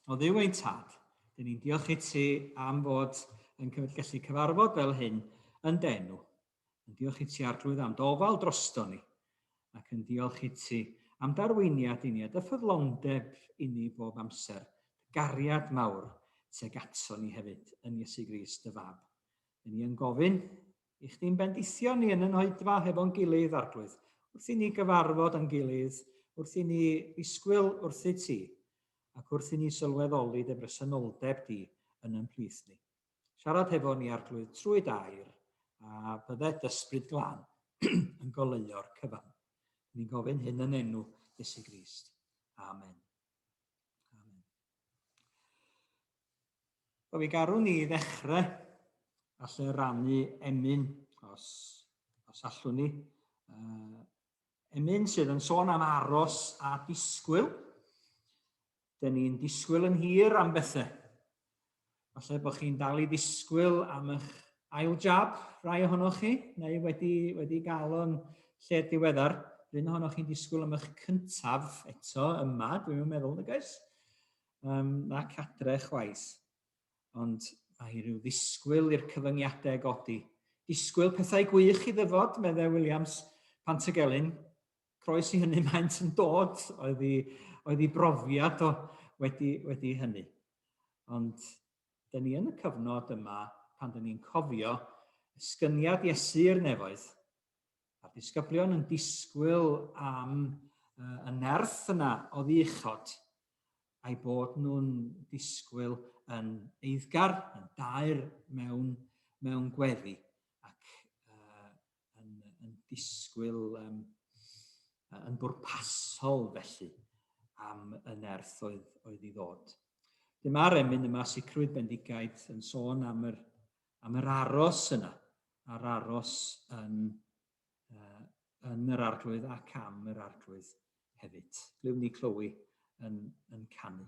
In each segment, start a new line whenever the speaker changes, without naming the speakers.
O ddiw ein tad, dyn ni'n diolch i ti am fod yn gallu cyfarfod fel hyn yn denw. Yn diolch i ti arglwydd am dofal drosto ni, ac yn diolch i ti am darweiniad i ni a dy ffyddlondeb i ni bob amser, dy gariad mawr teg ato ni hefyd yn Iesu Grist, dy fab. Yn ni yn gofyn I chdi'n bendithio ni yn y noedfa hefo'n gilydd, Arglwydd, wrth i ni gyfarfod yn gilydd, wrth i ni ddisgwyl wrthyt ti, ac wrth i ni sylweddoli dy bresenoldeb di yn yn plith ni. Siarad hefo ni, Arglwydd, trwy dair, a byddet ysbryd glan yn goleuo'r cyfan. Ni'n gofyn hyn yn enw Iesu Grist. Amen. Wel, mi garwn ni ddechrau a lle rannu emyn, os, os allwn ni. Uh, emyn sydd yn sôn am aros a disgwyl. Dyn ni'n disgwyl yn hir am bethau. Falle bod chi'n dal i ddisgwyl am eich ail jab, rai ohonoch chi, neu wedi, wedi gael o'n lle diweddar. Rhyn ohonoch chi'n disgwyl am eich cyntaf eto yma, dwi'n meddwl, nag oes? Um, na cadre chwaith, ond mae rhyw ddisgwyl i'r cyfyngiadau godi. Disgwyl pethau gwych i ddyfod, meddai Williams, pan tegelyn. Croes i hynny maent yn dod, oedd i, oedd i brofiad o wedi, wedi hynny. Ond dyn ni yn y cyfnod yma pan dyn ni'n cofio ysgyniad Iesu i'r nefoedd, A'r disgyblion yn disgwyl am uh, y nerth yna o ddichod, a'i bod nhw'n disgwyl yn eiddgar, yn daer mewn, mewn gweddi, ac uh, yn, yn disgwyl um, yn bwrpasol felly am y nerth oedd, oedd i ddod. Dyma'r emyn yma, sicrwydd bendigaid, yn sôn am yr am yr aros yna, a'r aros yn, uh, yn yr arglwydd ac am yr arglwydd hefyd. Glywn ni Chloe yn, yn canu.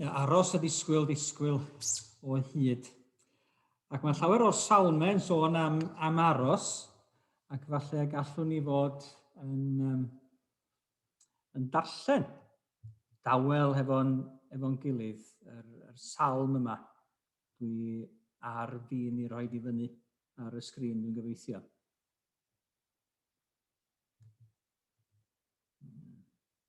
Ia, aros a disgwyl, disgwyl o hyd. Ac mae llawer o'r salmau yn sôn am, am aros, ac falle gallwn ni fod yn, um, yn darllen dawel hefo'n efo gilydd, yr, yr salm yma. Dwi ar fin i roi di fyny ar y sgrin, dwi'n gobeithio.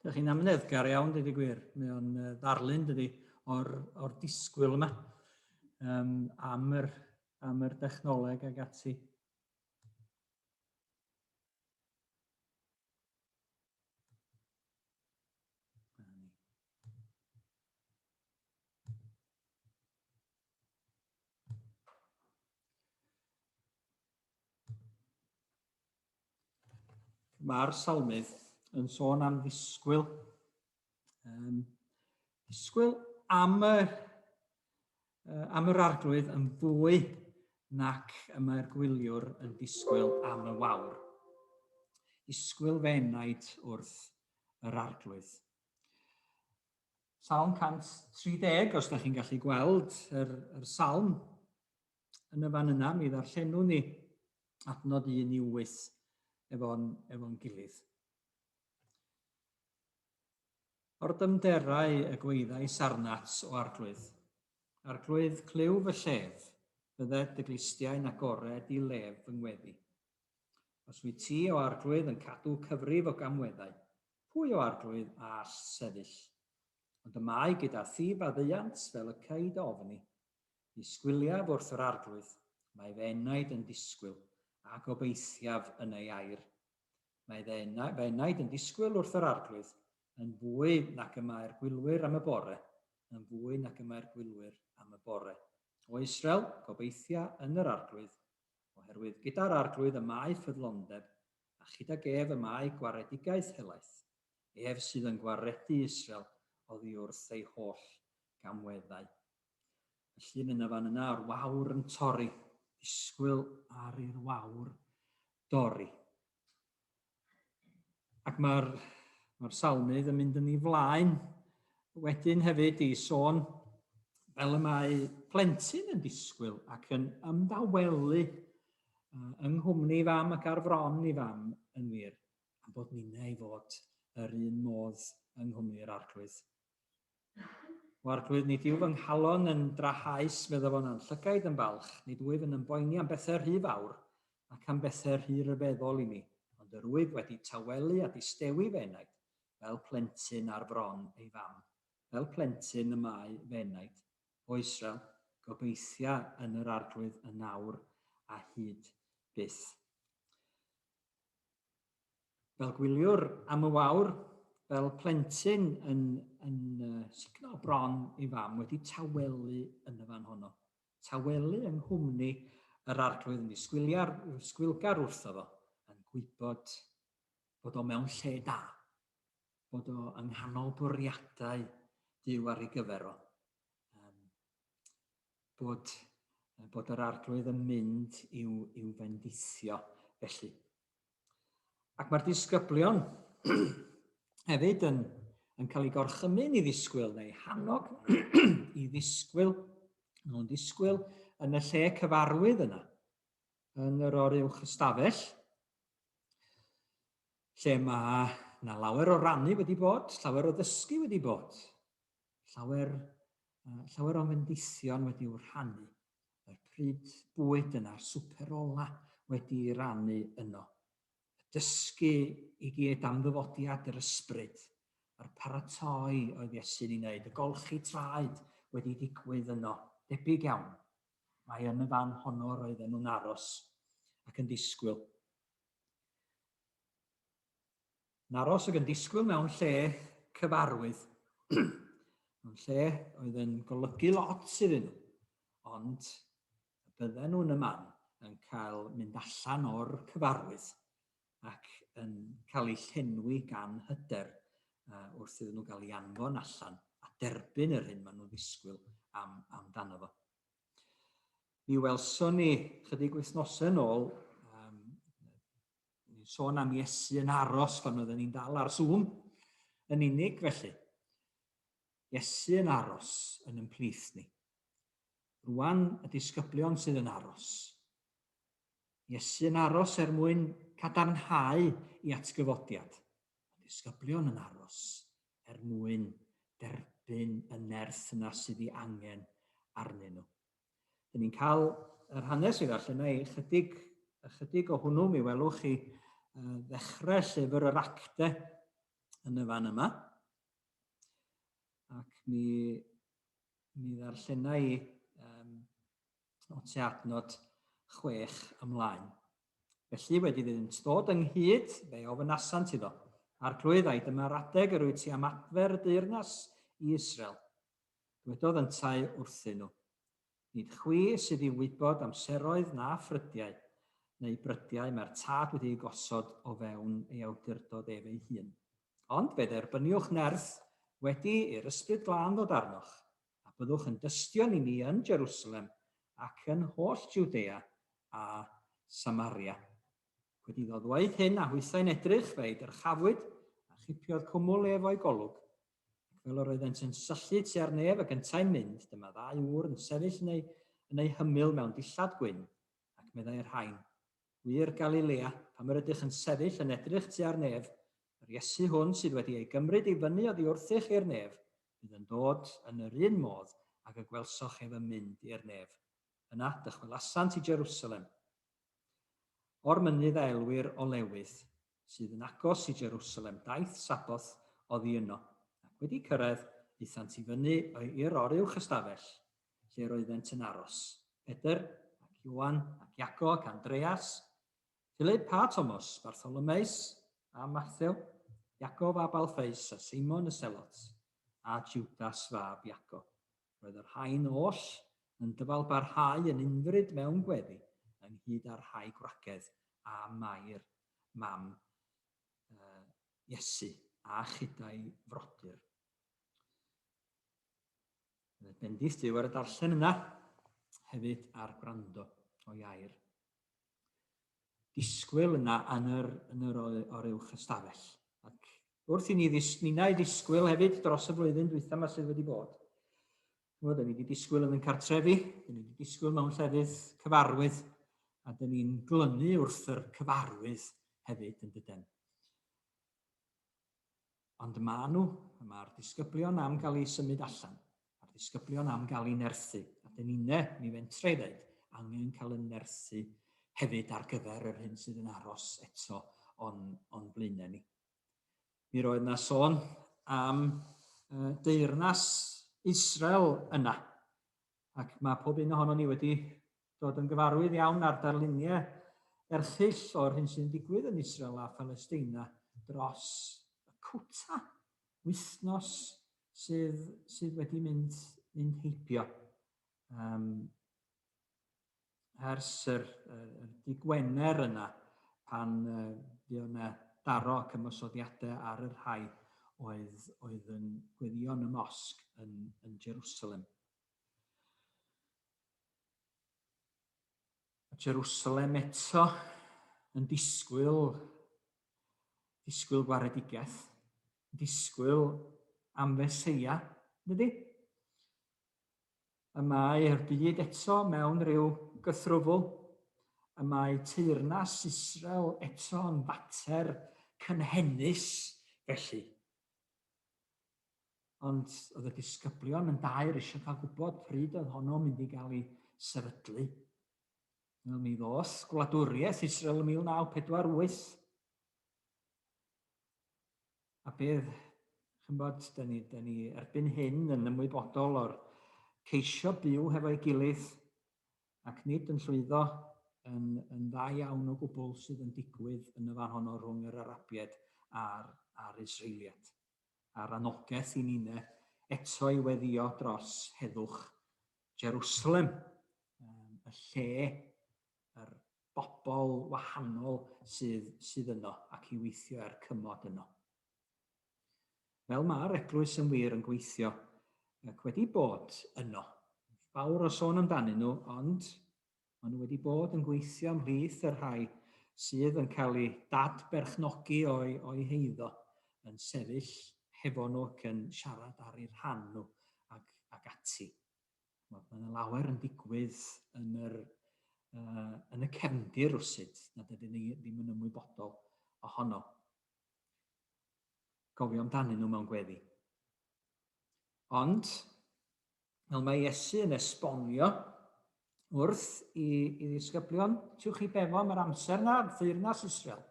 Dych chi'n amneddgar iawn, dydy gwir. Mae o'n ddarlun, dydy, o'r, or disgwyl yma um, am, yr, am yr dechnoleg ag ati. Mae'r salmydd yn sôn am ddisgwyl. Um, ddisgwyl am y, uh, am yr arglwydd yn fwy nac y mae'r gwyliwr yn disgwyl am y wawr. Disgwyl fe enaid wrth yr arglwydd. Salm 130, os da chi'n gallu gweld yr, yr salm, yn y fan yna, mi ddarllenwn ni adnod 1 i 8 efo'n efo gilydd. O'r dymderau y gweithau sarnat o arglwydd, arglwydd clyw fy llef, bydde dy glistiau'n agored i lef fy ngweddi. Os wyt ti o arglwydd yn cadw cyfrif o gamweddau, pwy o arglwydd all sefyll? Ond y mae gyda thi faddeuant fel y caid ofni, Disgwyliaf wrth yr Arglwydd, mae fy enaid yn disgwyl, a gobeithiaf yn ei air. Mae fy enaid yn disgwyl wrth yr Arglwydd, yn fwy nac y mae'r gwylwyr am y bore, yn fwy nac y mae'r gwylwyr am y bore. O Israel, gobeithia yn yr Arglwydd, oherwydd gyda'r Arglwydd y mae ffyddlondeb, a chydag ef y mae gwaredigaeth helaeth. Ef sydd yn gwaredu Israel oddi wrth ei holl gamweddau. Y llun yna fan yna, a'r wawr yn torri. Disgwyl ar i'r wawr dorri. Ac mae'r mae salmydd yn mynd yn ei flaen wedyn hefyd i sôn fel y mae plentyn yn disgwyl ac yn ymdawelu yng nghwmni fam ac ar fron i fam yn wir, a bod ninnau i fod yr un modd yng nghwmni'r arglwydd. O arglwydd, nid yw fy nghalon yn drahaus, medda fo'n anllygaid yn falch, nid wyf yn ymboeni am bethau rhy fawr, ac am bethau rhy ryfeddol i mi, ond yr wyf wedi tawelu a distewi fy enaid, fel plentyn ar fron ei fam, fel plentyn y mae fy enaid, O Israel, gobeithia yn yr arglwydd yn awr a hyd byth. fel gwyliwr am y wawr, fel plentyn yn, yn uh, sugno bron ei fam wedi tawelu yn y fan honno. Tawelu yng nghwmni yr arglwydd yn disgwiliar, sgwilgar wrtho fo, yn gwybod bod o mewn lle da, bod o yng nghanol bwriadau Dyw ar ei gyfer o. Um, bod, bod yr arglwydd yn mynd i'w, i'w fendithio felly. Ac mae'r disgyblion hefyd yn, yn cael ei gorchymyn i ddisgwyl neu hannog i ddisgwyl, nhw'n ddisgwyl yn y lle cyfarwydd yna, yn yr oruwch ystafell, lle mae na lawer o rannu wedi bod, llawer o ddysgu wedi bod, llawer, uh, llawer o fendithion wedi'w rhannu yr pryd bwyd yna'r swper ola wedi'i rannu yno. Y dysgu i gyd am ddyfodiad yr ysbryd, a'r paratoi oedd Iesu'n ei wneud, y golchi traed wedi digwydd yno, debyg iawn. Mae yn y fan honno roedden nhw'n aros ac yn disgwyl. yn aros ac yn disgwyl mewn lle cyfarwydd. mewn lle oedd yn golygu lot iddyn nhw. Ond bydden nhw'n y man yn cael mynd allan o'r cyfarwydd ac yn cael eu llenwi gan hyder uh, wrth iddyn nhw gael ei anfon allan a derbyn yr hyn maen nhw'n ddisgwyl am, amdano fo. Mi welson ni chydig wythnosau yn ôl um, ni'n sôn am Iesu yn aros pan oedden ni'n dal ar Zoom yn unig felly. Iesu yn aros yn ymplith ni. Rwan y disgyblion sydd yn aros. Iesu yn aros er mwyn cadarnhau i atgyfodiad. Y disgyblion yn aros er mwyn derbyn y nerth yna sydd ei angen arnyn nhw. Dyn ni'n cael yr hanes i ddarllen ei chydig, ychydig o hwnnw mi welwch chi ddechrau llyfr yr acte yn y fan yma. Ac mi, mi ddarllenau i um, o te adnod chwech ymlaen. Felly wedi iddynt ddod ynghyd, fe ofynasant iddo. Arglwydd, ai dyma'r adeg yr wyt ti am adfer y deyrnas i Israel? Dwedodd yntau wrthyn nhw, Nid chwi sydd i wybod amseroedd na ffrydiau, neu brydiau mae'r Tad wedi'u gosod o fewn ei awdurdod ef ei hun. Ond fe dderbyniwch nerth wedi i'r Ysbryd Glân ddod arnoch, a byddwch yn dystion i mi yn Jerusalem, ac yn holl Jwdea a Samaria. Wedi iddo ddweud hyn, a hwythau'n edrych, fe'i dyrchafwyd, a chipiodd cwmwl ef o'i golwg, fel yr oeddent yn syllu tua'r nef ac yntau'n mynd, dyma ddau ŵr yn sefyll yn eu, yn eu hymyl mewn dillad gwyn, ac meddai y rhain, Gwir Galilea, pam yr ydych yn sefyll yn edrych tua'r nef? Yr Iesu hwn sydd wedi ei gymryd i fyny oddi wrthych i'r nef, bydd yn dod yn yr un modd ag y gwelsoch ef yn mynd i'r nef. Yna dychwelasant i Jerusalem o'r mynydd a elwir Olewydd, sydd yn agos i Jerusalem, daeth Sabboth oddi yno, ac wedi cyrraedd, aethant i fyny i'r oruwch ystafell, lle yr oeddent yn aros, Pedr, ac Ioan, ac Iago, ac Andreas, Philip a Tomos, Bartholomeus, a Mathew, Iago fab Alffeus, a Seimon y Selot, a Jwdas fab Iago. Roedd y rhain oll yn dyfalbarhau yn unfryd mewn gweddi, ynghyd â'r rhai gwragedd a Mair, mam Iesu, a chyda'i frodyr. Roedd bendith Duw ar y darllen yna, hefyd ar gwrando o'i air. disgwyl yna yn yr, yn yr oruwch ystafell. Ac wrth i ni ddis, nina i ddisgwyl hefyd dros y flwyddyn dwytha yma sydd wedi bod. Chymod, dyn ni wedi disgwyl yn yn cartrefi, dyn ni wedi disgwyl mewn llefydd cyfarwydd, a dyn ni'n glynu wrth yr cyfarwydd hefyd yn dydyn. Ond ma nhw, y ma'r disgyblion am gael eu symud allan, a'r disgyblion am gael eu nerthu, a dyn inne, mi fentra i ddeud, angen cael y nerthu hefyd ar gyfer yr hyn sydd yn aros eto o'n, on blaenau ni. Mi roedd yna sôn am uh, deyrnas Israel yna, ac mae pob un ohono ni wedi dod yn gyfarwydd iawn â'r darluniau erchyll o'r hyn sy'n digwydd yn Israel a Phalesteina dros y cwta wythnos sydd, sydd wedi mynd, mynd heibio. Um, ers yr, yr, yr dy Gwener yna, pan uh, fuodd yna daro ac ymosodiadau ar y rhai oedd, oedd yn gweddion y mosg yn, yn Jerusalem. Jerusalem eto yn disgwyl disgwyl gwaredigaeth, disgwyl am Feseia, dydy? Y mae'r byd eto mewn rhyw gythrwfl. Y mae teyrnas Israel eto yn fater cynhenus felly. Ond oedd y disgyblion yn dair eisiau cael gwybod pryd oedd honno mynd i gael ei sefydlu. Wel, mi ddoth gwladwriaeth Israel yn 1948. a bydd, chi'n bod, da ni, da ni erbyn hyn yn ymwybodol o'r ceisio byw hefo'i gilydd ac nid yn llwyddo yn, yn dda iawn o gwbl sydd yn digwydd yn y fan honno rhwng yr Arabiaid a'r, a'r Israeliad. A'r anogaeth i ni'n eto i weddio dros heddwch Jerusalem, y lle yr bobl wahanol sydd sydd yno ac i weithio er cymod yno. Fel mae'r eglwys yn wir yn gweithio ac wedi bod yno. Fawr o sôn amdanyn nhw, ond maen nhw wedi bod yn gweithio ymhlith y rhai sydd yn cael eu dadberchnogi o'i, o'i heiddo, yn sefyll hefo nhw ac yn siarad ar eu rhan nhw ac, ac ati. Mae yna lawer yn digwydd yn, yr, uh, yn y cefndir rwsyd na dydyn ni ddim yn ymwybodol ohono. Gofio amdanyn nhw mewn gweddi. Ond, fel mae Iesu yn esbonio wrth i, i ddisgyblion, tiwch chi befo am yr amser na, ddeyrnas Israel.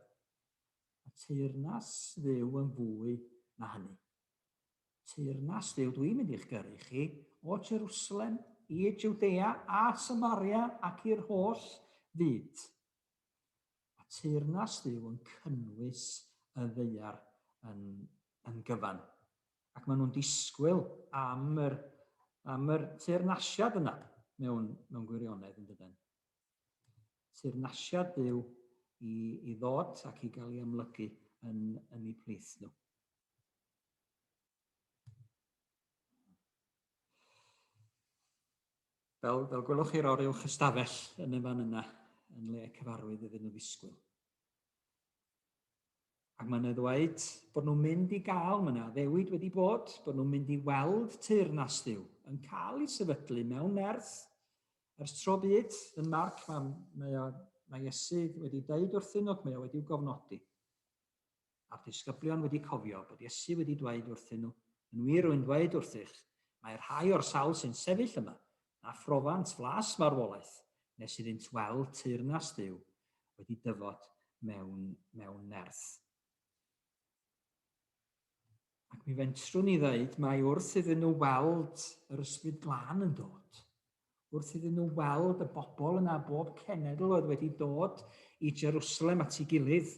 Mae teyrnas ddew yn fwy na hynny. Teyrnas Duw, dwi'n mynd i'ch gyrru chi, o Jerwsalem, i Jwdea a Samaria ac i'r holl fyd. Mae teyrnas Duw yn cynnwys y ddeiar yn, yn gyfan. Ac maen nhw'n disgwyl am yr, am yr teyrnasiad yna mewn, mewn gwirionedd yn dydyn. Teyrnasiad Duw i, i ddod ac i gael ei amlygu yn, yn eu plith nhw. Fel, fel gwelwch chi'r oriel chystafell yn y fan yna, yn le cyfarwydd iddyn nhw ddisgwyl. Ac mae'n ddweud bod nhw'n mynd i gael, mae yna ddewyd wedi bod, bod nhw'n mynd i weld tyr nas ddiw, yn cael ei sefydlu mewn nerth, ers tro byd, yn marc, mae, mae, mae Iesu wedi deud wrthyn nhw, mae o wedi gofnodi. a'r disgyblion wedi cofio bod Iesu wedi dweud wrthyn nhw, Yn wir rwy'n dweud wrthych, mae rhai o'r sawl sy'n sefyll yma, na phrofant flas marwolaeth, nes iddynt weld teyrnas Duw wedi dyfod mewn, mewn nerth. Ac mi fentrwn i ddeud, mae wrth iddyn nhw weld yr ysbryd glân yn dod, wrth iddyn nhw weld y bobl yna bob cenedl oedd wedi dod i Jerusalem at ei gilydd,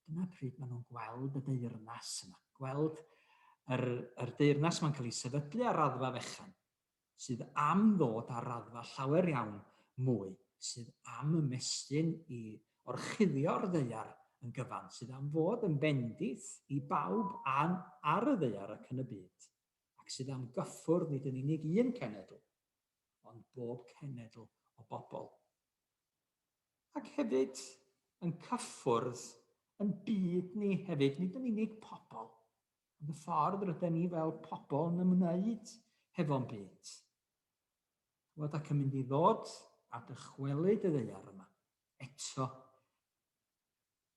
Dyna pryd maen nhw'n gweld y deyrnas yma, gweld yr, yr deyrnas mae'n cael ei sefydlu ar raddfa fechan, sydd am ddod ar raddfa llawer iawn mwy, sydd am ymestyn i orchuddio'r ddeiar yn gyfan, sydd am fod yn bendith i bawb an, ar y ddeiar ac yn y byd, ac sydd am gyffwrdd nid yn unig un cenedl, ond bob cenedl o bobl. ac hefyd yn cyffwrdd yn byd ni hefyd, nid yn unig pobl, ond y ffordd rydyn ni fel pobl yn ymwneud hefo'n byd. Chwod ac yn mynd i ddod a dychwelyd y ddeiar yma, eto,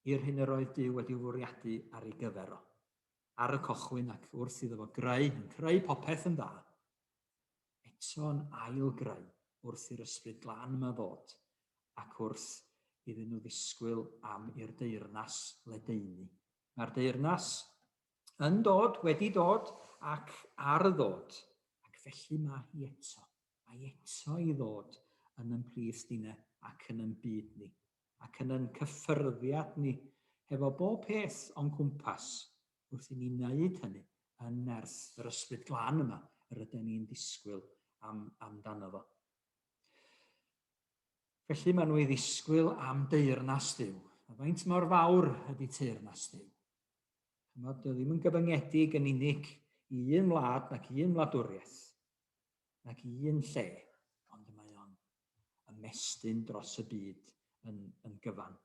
i'r hyn yr oedd Dyw wedi fwriadu ar ei gyfer o, ar y cochwyn ac wrth iddo fo greu, yn creu popeth yn dda, eto'n ail-greu wrth i'r Ysbryd Glân yma ddod, ac wrth iddyn nhw ddisgwyl am i'r deyrnas ledaenu. Mae'r deyrnas yn dod, wedi dod, ac ar y ddod, ac felly mae hi eto, mae eto i ddod yn yn plith dine ac yn yn byd ni, ac yn yn cyffyrddiad ni, hefo bob peth o'n cwmpas, wrth i ni wneud hynny yn nerth yr Ysbryd Glân yma yr ydym ni'n disgwyl am, amdano fo. Felly maen nhw i ddisgwyl am deyrnas Dyw. A faint mor fawr ydy teyrnas Dyw? Chymod, dy ddim yn gyfyngedig yn unig i un wlad nac i un wladwriaeth, nac i un lle, ond y mae o'n ymestyn dros y byd yn, yn gyfan.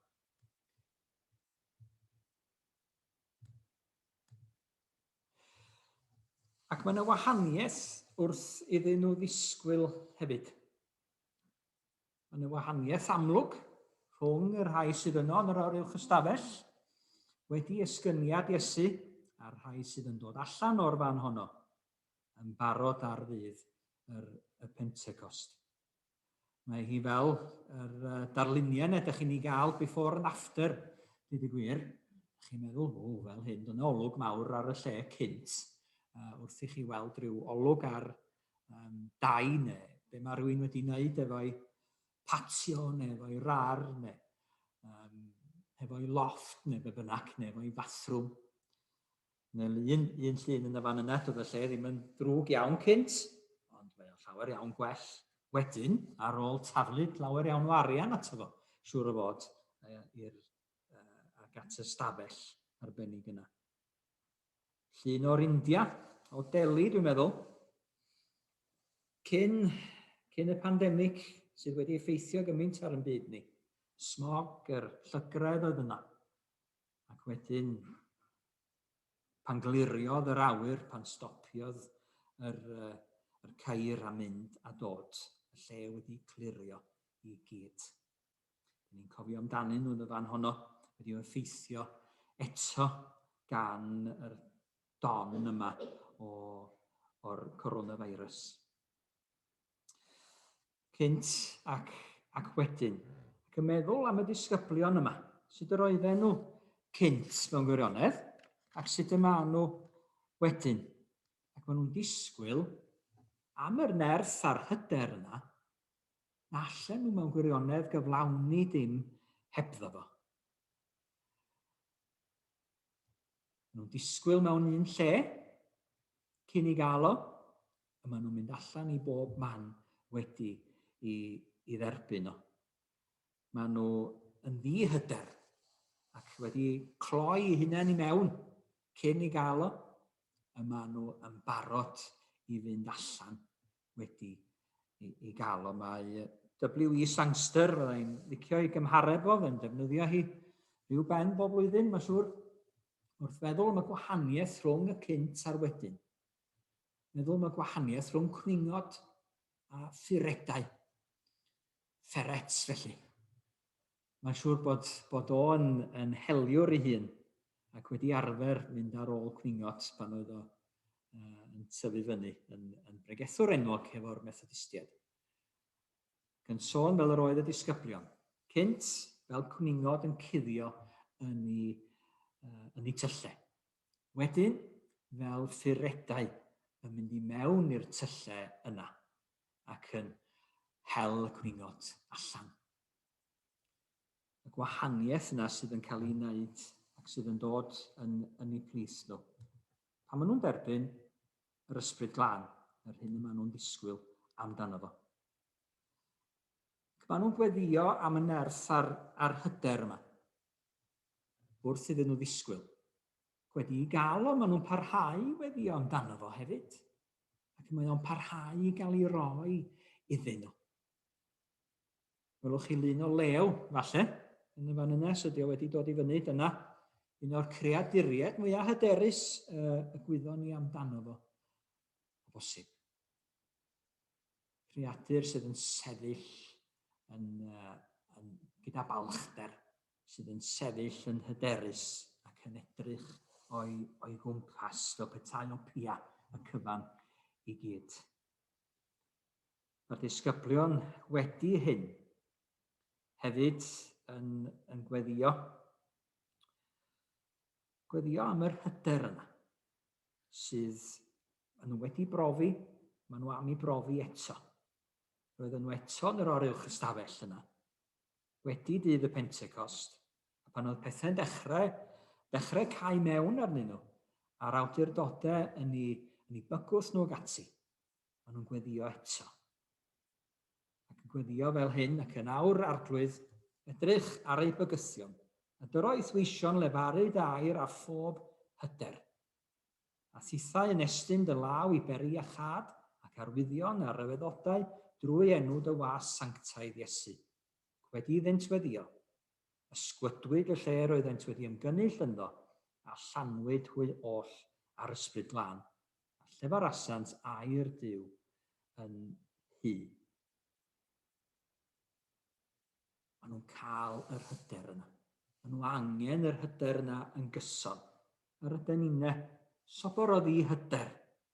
Ac mae yna wahaniaeth wrth iddyn nhw ddisgwyl hefyd. Mae yna wahaniaeth amlwg rhwng y rhai sydd yno yn yr awr uwch ystafell wedi esgyniad Iesu a'r rhai sydd yn dod allan o'r fan honno yn barod ar ddydd yr, y Pentecost. Mae hi fel yr uh, darluniau yna ydych chi'n ei gael before and after, dyd y gwir. Ydych chi'n meddwl, o, fel hyn, dyna olwg mawr ar y lle cynt, uh, wrth i chi weld rhyw olwg ar um, dau neu be mae rhywun wedi wneud efo'i patio neu efo'i rar neu um, efo'i loft neu be bynnag neu efo'i fathroom. Neu un, un llun yn y fan yna, doedd y lle ddim yn ddrwg iawn cynt, ond mae o'n llawer iawn gwell wedyn, ar ôl taflu llawer iawn o arian ato fo, siŵr o fod, i'r uh, ac at y stafell arbennig yna. Llun o'r India, o Delhi, dwi'n meddwl, cyn, cyn y pandemig sydd wedi effeithio gymaint ar yn byd ni. Smog, yr llygredd oedd yna. Ac wedyn, pan gliriodd yr awyr, pan stopiodd yr, uh, yr cair a mynd a dod, y lle wedi clirio i gyd. Dyn ni'n cofio amdanyn nhw'n y fan honno, wedi o'r ffeithio eto gan yr don yma o, o'r coronavirus. cynt ac, ac wedyn, ac yn meddwl am y disgyblion yma, sut yr oedden nhw cynt mewn gwirionedd, ac sut y maen nhw wedyn. Ac maen nhw'n disgwyl am yr nerth a'r hyder yna, na allan nhw mewn gwirionedd gyflawni dim hebddo fo. Maen nhw'n disgwyl mewn un lle, cyn i gael o, a maen nhw'n mynd allan i bob man wedi i, i dderbyn o. Maen nhw yn ddihyder ac wedi cloi eu hunain i mewn cyn i gael o, y maen nhw yn barod i fynd allan wedi i, i gael o. Mae W.E. Sangster, fyddai'n i'n licio i gymhareb o, fe'n defnyddio hi rhyw ben bob blwyddyn, mae'n siŵr, wrth feddwl am y gwahaniaeth rhwng y cynt a'r wedyn. meddwl am y gwahaniaeth rhwng cwningod a phuredau. Ferrets, felly. Mae'n siŵr bod, bod o'n yn heliwr ei hun ac wedi arfer mynd ar ôl cwningod pan oedd o uh, yn tyfu fyny yn, yn bregethwr enwog hefo'r Methodistiaid. Gan sôn fel yr oedd y disgyblion, cynt fel cwningod yn cuddio yn ei, uh, yn ei tyllau. Wedyn, fel ffuredau, yn mynd i mewn i'r tyllau yna, ac yn hel y cwningod allan. Y gwahaniaeth yna sydd yn cael ei wneud ac sydd yn dod yn yn eu plith nhw. Pan maen nhw'n derbyn yr ysbryd glân, yr hyn y maen nhw'n ddisgwyl amdano fo. Ac maen nhw'n gweddio am y nerth a'r, a'r hyder yma. wrth iddyn nhw ddisgwyl. Ac wedi i gael o, maen nhw'n parhau i weddio amdano fo hefyd. Ac mae o'n parhau i gael ei roi iddyn nhw. Welwch chi lun o lew, falle, yn y fan yna, so dio wedi dod i fyny, dyna un o'r creaduriaid mwyaf hyderus uh, y gwyddon ni amdano fo, o bosib. Creadur sydd yn sefyll yn, uh, yn, gyda balchder sydd yn sefyll yn hyderus ac yn edrych o'i, o'i gwmpas fel petai o pia y cyfan i gyd. Mae'r disgyblion wedi hyn hefyd yn, yn gweddio, gweddio am yr hyder yna sydd maen nhw wedi brofi, maen nhw am ei brofi eto. Roedden nhw eto yn yr oruwch ystafell yna, wedi dydd y Pentecost, a phan oedd pethau'n dechrau, dechrau cau mewn arnyn nhw, a'r awdurdodau yn eu, yn eu bygwth nhw ac ati, maen nhw'n gweddio eto. Ac yn gweddio fel hyn, ac yn awr arglwydd, edrych ar eu bygythion, a dyroedd weision lefaru dair ar phob hyder. a thithau yn estyn dy law i beri a chad ac arwyddion a ryfeddodau drwy enw dy was sanctaidd Iesu. Ac wedi iddynt weddïo, ysgwydwyd y lle roeddent wedi ymgynnull ynddo, a llanwyd hwy oll â'r Ysbryd Glân, a llefarasant air Duw yn nhŷ. Maen nhw'n cael yr hyder yna. Maen nhw angen yr hyder yna yn gyson. Yr ydyn ni'n ne. Sobor o ddi hyder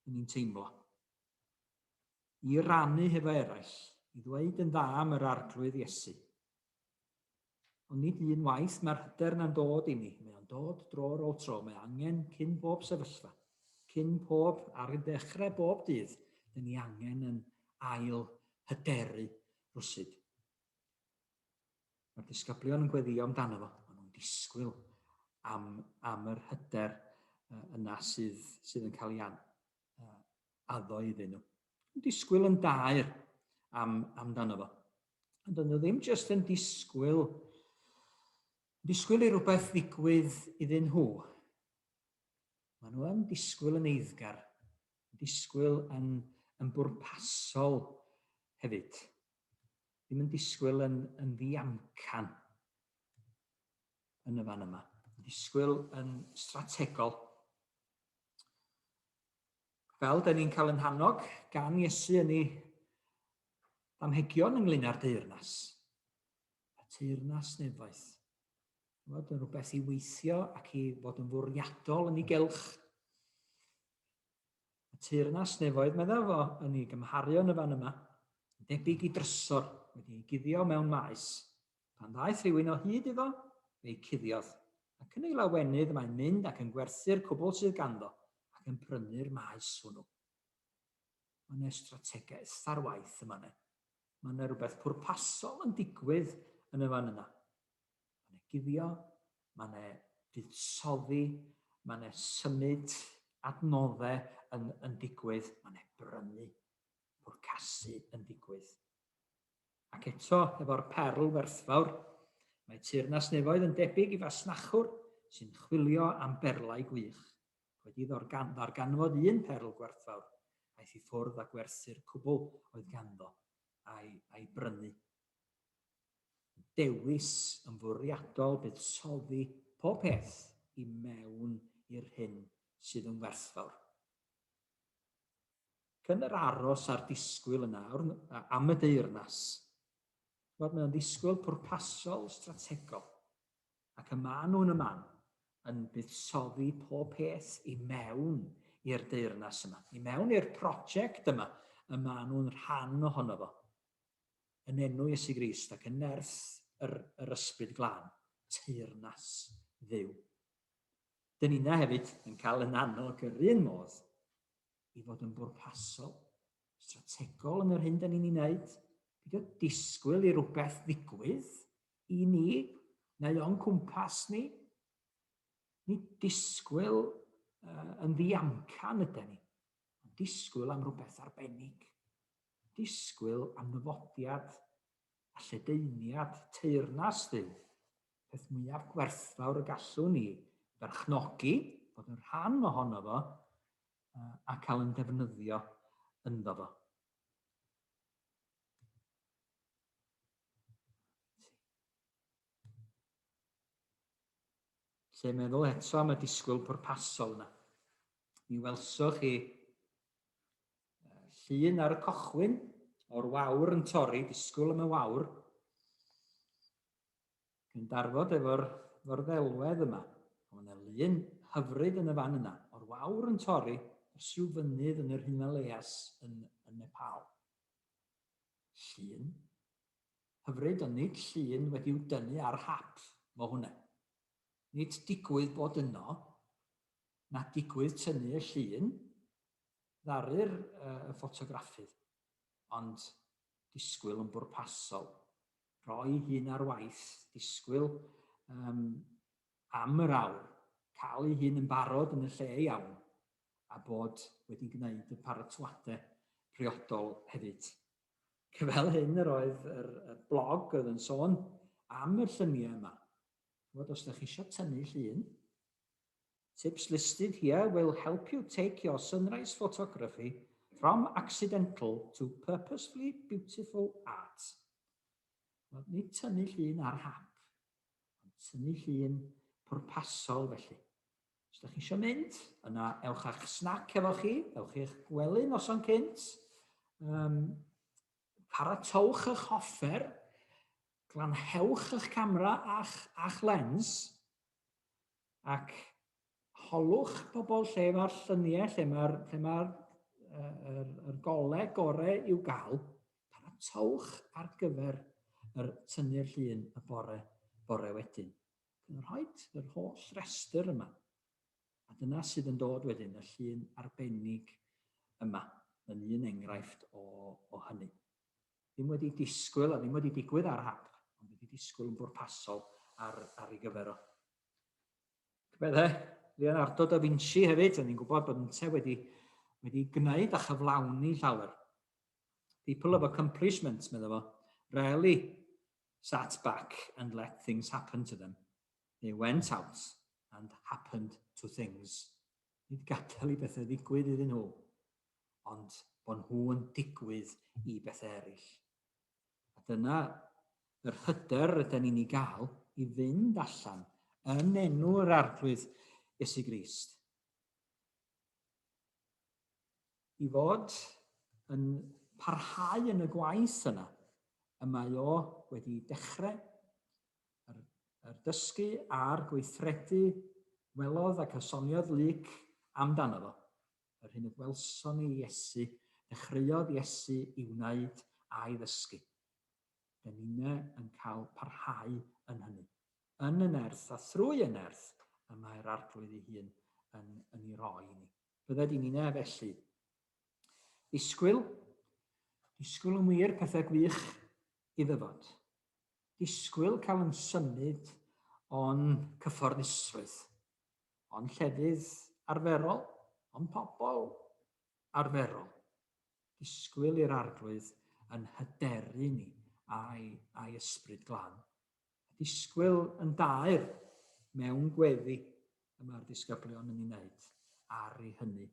yn ni'n teimlo. I rannu hefo eraill, i ddweud yn dda am yr Arglwydd Iesu. Ond nid un waith mae'r hyder yna'n dod i ni. Mae o'n dod dro ar ôl tro. Mae angen cyn bob sefyllfa. Cyn pob, ar y dechrau bob dydd, dyn ni angen yn ail hyderu rwsyd. Mae'r disgyblion yn gweddio amdano fo, maen nhw'n disgwyl am, am yr hyder yna sydd, sydd yn cael ei an, addo iddyn nhw. Yn disgwyl yn daer am, amdano fo. Ond dyn nhw ddim jyst yn disgwyl, disgwyl i rhywbeth ddigwydd iddyn nhw. Maen nhw yn disgwyl yn eiddgar, disgwyl yn, yn bwrpasol hefyd. ddim yn disgwyl yn, yn ddiamcan yn y fan yma. Disgwyl yn strategol. Fel da ni'n cael yn hannog gan Iesu yn ei amhegion ynglyn â'r deyrnas. Y teyrnas nefoedd. Fod yn rhywbeth i weithio ac i fod yn fwriadol yn ei gelch. Y teyrnas nefoedd, meddaf fo, yn ei gymharu yn y fan yma, yn debyg i drysor wedi ei guddio mewn maes. Pan ddaeth rhywun o hyd iddo, fe'i cuddiodd, ac yn ei lawenydd mae'n mynd ac yn gwerthu'r cwbl sydd ganddo ac yn prynu'r maes hwnnw. Mae yna strategaeth ar waith yn fan 'na. Mae yna rhywbeth pwrpasol yn digwydd yn y fan yna. Ma' 'ne guddio, ma' 'ne fuddsoddi, ma' 'ne symud adnodde yn yn digwydd, ma' 'ne brynu, pwrcasu yn ddigwydd. Ac eto, efo'r perl werthfawr, mae Teyrnas Nefoedd yn debyg i fasnachwr sy'n chwilio am berlau gwych. Wedi ddorgan- ddarganfod un perl gwerthfawr, aeth i ffwrdd â gwerthu'r cwbl oedd ganddo, a'i a'i brynu. dewis yn fwriadol buddsoddi pob peth i mewn i'r hyn sydd yn werthfawr. Ac yn yr aros a'r disgwyl yn awr am y deyrnas, chymod, mae o'n ddisgwyl pwrpasol, strategol, ac y maen nhw'n y man yn buddsoddi pob peth i mewn i'r deyrnas yma, i mewn i'r prosiect yma, y maen nhw'n rhan ohono fo. yn enw Iesu Grist ac yn nerth yr, yr Ysbryd Glân, teyrnas dduw. Dyn ni'na hefyd yn cael yn annog yr un modd i fod yn bwrpasol, strategol yn yr hyn dyn ni'n ei wneud, pidio disgwyl i rhywbeth ddigwydd i ni neu o'n cwmpas ni. Ni disgwyl uh, yn ddiamcan ydyn ni, ond disgwyl am rhywbeth arbennig. disgwyl am ddyfodiad a lledaeniad teyrnas fydd peth mwyaf gwerthfawr y gallwn ni berchnogi, bod yn rhan ohono fo a cael yn defnyddio ynddo fo. Lle meddwl eto am y disgwyl pwrpasol yna. Mi welsoch chi Llun ar y cochwyn o'r wawr yn torri, disgwyl am y wawr. Yn darfod efo'r ddelwedd yma. Mae yna lun hyfryd yn y fan yna, o'r wawr yn torri, dros rhyw fynydd yn yr Himalayas yn, yn Nepal. Llun hyfryd, ond nid llun wedi'w dynnu ar hap, mo hwnna. Nid digwydd bod yno, na digwydd tynnu y llun, ddaru'r yy ffotograffydd, ond disgwyl yn bwrpasol, rho'i hun ar waith, disgwyl yym am yr awr, cael ei hun yn barod yn y lle iawn, a bod wedi gwneud y paratoadau priodol hefyd. Fel hyn yr oedd yr y blog oedd yn sôn am y lluniau yma. Ch'mod, os dach chi isio tynnu llun, Tips listed here will help you take your sunrise photography from accidental to purposefully beautiful art. Wel, nid tynnu llun ar hap, ond tynnu llun pwrpasol felly. Os ydych chi eisiau mynd, yna ewch â'ch snac efo chi, ewch i'ch gwely noson cynt, um, paratowch eich hoffer, glanhewch eich camera a'ch, a'ch lens, Ac holwch pobl lle mae'r lluniau, lle mae'r lle mae er, er, er golau gorau i'w gael, paratowch ar gyfer yr tynnu'r llun y bore, bore wedyn. Yn rhoi yr holl restr yma. A dyna sydd yn dod wedyn, y llun arbennig yma, yn un enghraifft o, o hynny. ddim wedi disgwyl a ddim wedi digwydd ar hap, ond wedi disgwyl yn bwrpasol ar, ar ei gyfer o. Meddai, Leonardo da Vinci hefyd, o'n i'n gwybod bod yntau wedi, wedi gwneud a chyflawni llawer. People of accomplishment, meddai fo, rarely sat back and let things happen to them. They went out and happened to things. nid gadael i bethau ddigwydd iddyn nhw, ond bod nhw yn digwydd i bethau eraill. A dyna yr hyder rydyn ni'n ei gael i fynd allan yn enw yr Arglwydd Iesu Grist. I fod yn parhau yn y gwaith yna y mae o wedi dechrau Yr, yr dysgu a'r gweithredu welodd ac a soniodd Luc amdano fo, yr hyn y gwelson ni Iesu, dechreuodd Iesu i wneud a'i ddysgu. Dyn ninne yn cael parhau yn hynny. Yn y nerth a thrwy y nerth y mae'r Arglwydd ei hun yn, yn ei roi i ni. Bydde di ninne felly. Disgwyl, disgwyl yn wir pethau gwych i ddyfod. disgwyl cael yn symud o'n cyfforddusrwydd, o'n llefydd arferol, o'n pobl arferol, disgwyl i'r Arglwydd yn hyderu ni a'i, a'i Ysbryd Glân, a disgwyl yn daer mewn gweddi y mae'r disgyblion yn ei wneud ar ei hynny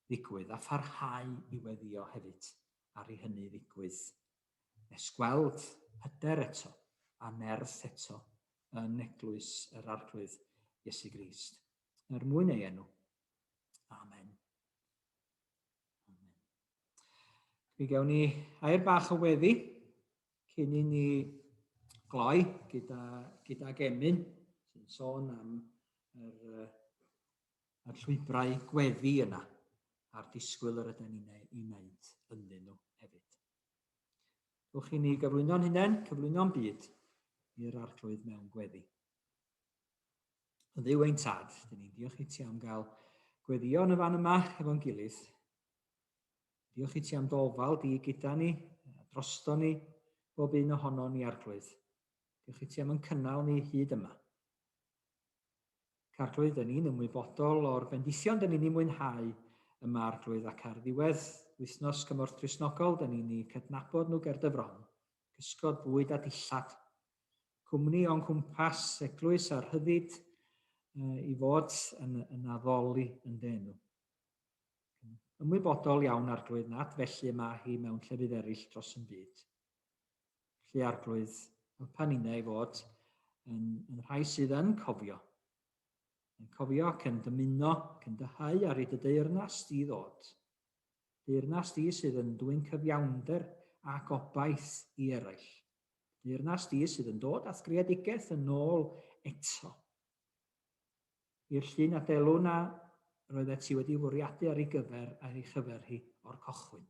ddigwydd, a pharhau i weddio hefyd ar ei hynny ddigwydd nes gweld hyder eto a nerth eto yn Eglwys yr Arglwydd Iesu Grist, er mwyn ei enw. Amen. Amen. Mi gewn ni air bach o weddi cyn i ni gloi gyda, gyda gemyn sy'n sôn am yr, y llwybrau gweddi yna a'r disgwyl yr ydym ni'n ei wneud ynddyn nhw hefyd. Ewch i ni gyflwyno'n hunain, cyflwyno'n byd i'r arglwydd mewn gweddi. O ddiw ein tad, dyn ni'n diolch i ti am gael gweddio yn y fan yma efo'n gilydd. Diolch i ti am ddofal di gyda ni, drosto ni, bob un ohono ni arglwydd. Diolch i ti am yn cynnal ni hyd yma. ac ar glwydd dyn ni'n ymwybodol o'r bendithion dyn ni'n ei mwynhau yma ar glwydd ac ar ddiwedd wythnos cymorth Cristnogol dyn ni'n eu cydnabod nhw ger dy fron, cysgod bwyd a dillad, cwmni o'n cwmpas, eglwys a rhyddid i fod yn, yn addoli yn dy enw. Ymwybodol iawn ar glwydd nad felly y mae hi mewn llefydd eraill dros yn byd. Felly arglwydd, helpa ninna i fod yn, yn rhai sydd yn cofio. Yn cofio ac yn dymuno ac yn dyhau ar ei dydeyrnas di ddod. Deyrnas di sydd yn dwy'n cyfiawnder ac obaith i eraill. Deyrnas di sydd yn dod â'th greadigaeth yn ôl eto. I'r llun a delwn a roeddet ti wedi fwriadu ar ei gyfer ar ei chyfer hi o'r cochwyn.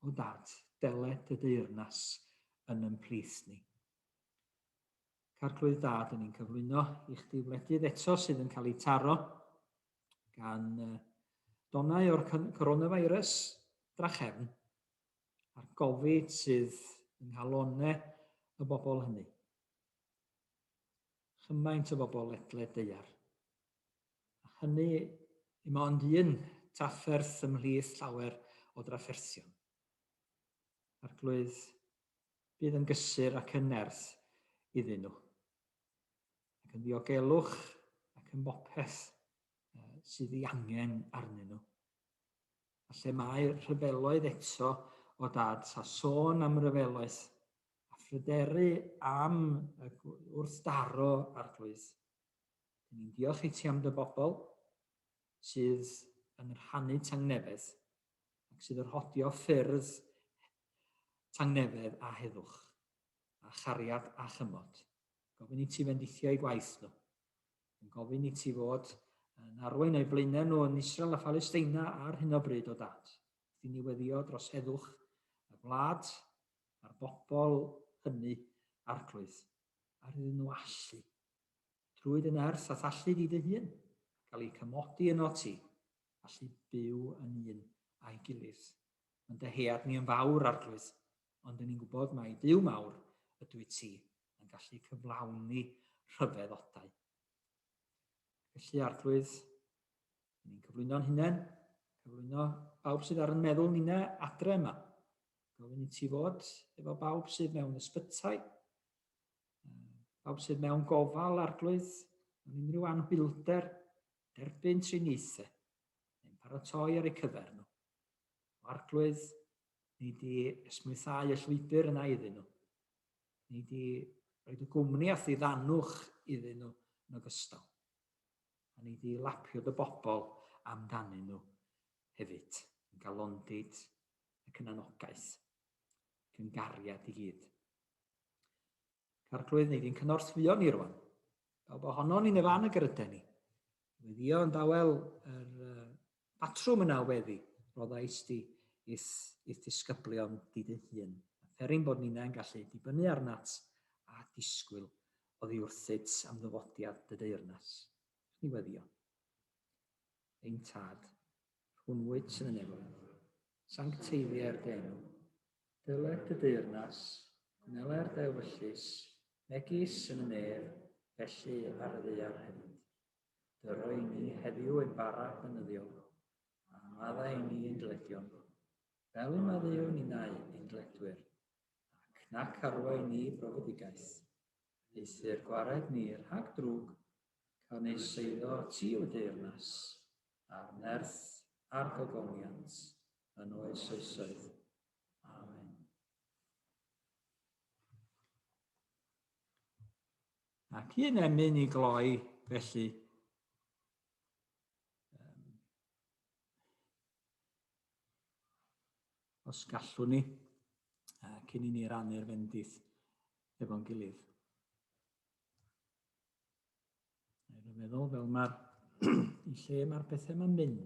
o dad, deled dy deyrnas yn yn plith ni. Carclwydd dad yn ni'n cyflwyno i chdi wledydd eto sydd yn cael ei taro gan uh, donau o'r coronavirus drachefn a'r gofid sydd yng nghalonau y bobl hynny. Chymaint o bobl ledled deiar. a hynny im ond un drafferth ymhlith llawer o drafferthion. Arglwydd, bydd yn gysur ac yn nerth iddyn nhw, ac yn ddiogelwch ac yn bopeth sydd ei angen arnyn nhw. A lle mae rhyfeloedd eto o dad, sa sôn am ryfeloedd, a phryderu am y wrthdaro arglwydd, Dyn ni'n diolch i ti am dy bobl sydd yn rhannu tangnefedd ac sydd yn rhodio ffyrdd tangnefedd a heddwch a chariad a chymod. Gofyn i ti fendithio i gwaith nhw. Yn gofyn i ti fod yn arwain eu blaenau nhw yn Israel a Phalesteina ar hyn o bryd o dad. Wrth i ni weddio dros heddwch y wlad a'r bobl hynny arglwydd, ar iddyn nhw allu Trwy dy nerth a thallu di dy hun, cael eu cymodi yno ti, allu byw yn un a'i gilydd. Mae'n dyhead ni yn fawr, Arglwydd, ond dyn ni'n gwybod mai Duw mawr ydw i ti yn gallu cyflawni rhyfeddodau. Felly, Arglwydd, ni'n cyflwyno'n hunain, cyflwyno bawb sydd ar yn meddwl ni na adre yma. Gofyn i ti fod efo bawb sydd mewn ysbytai, Pawb sydd mewn gofal arglwydd mewn unrhyw anhwylder, derbyn triniaethau neu'n paratoi ar eu cyfer nhw. O arglwydd, ni di esmwythau y llwybr yna iddyn nhw. Ni di roed y gwmni a thyddanwch iddyn nhw yn ogystal. A ni di lapio dy bobl amdanyn nhw hefyd, yn galondid ac yn anogaeth, ac yn gariad i gyd. Carclwydd, neu fi'n cynorthwyo ni rwan. Pawb ohono ni'n y fan y gyrydau ni. Weddio yn dawel yr uh, batrwm yna weddi, roddais di ith, ith disgyblion di dy hun. Ferin bod ni'n yn gallu dibynnu arnat a disgwyl o ddiwrthyt am ddyfodiad dy deyrnas. Ni weddio. Ein tad, rhwnnwyd sy'n y nefol, sancteiddiau'r denw, Dyled y deyrnas, cwnelai'r dewyllys, megis yn y nef, felly ar y ddaear hefyd. Dy roi ni heddiw ein bara benyddion, a maddau ni ein dledion, fel y maddeu ninnau ein dledwyr, ac nac arwai ni brofedigaeth, eithr gwared ni rhag drwg, ac a wneis eiddo ti, O deyrnas, a'r nerth a'r gogoniant, yn oes oesoedd. Amen. Ac un emyn i gloi, felly, os gallwn ni, cyn i ni rannu'r fendith efo'n gilydd. Rwy'n meddwl fel mae'r lle mae'r pethau mae'n mynd,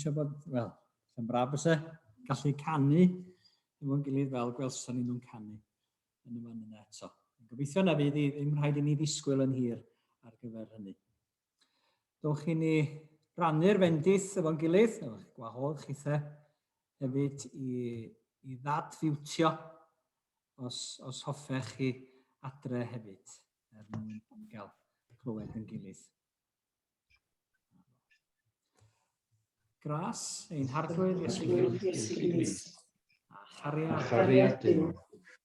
eisiau bod, wel, yn braf bys e, gallu canu efo'n gilydd fel gwelson ni nhw'n canu yn y fan yna eto. Gobeithio na fydd ddim rhaid i ni ddisgwyl yn hir ar gyfer hynny. Dowch i ni rannu'r fendith efo'n gilydd, efo'ch gwahodd chithe hefyd i, i ddad fiwtio os, os hoffech chi adre hefyd er mwyn gael clywed yn gilydd. Gras, ein harglwydd Iesu Grist, a chariad Duw.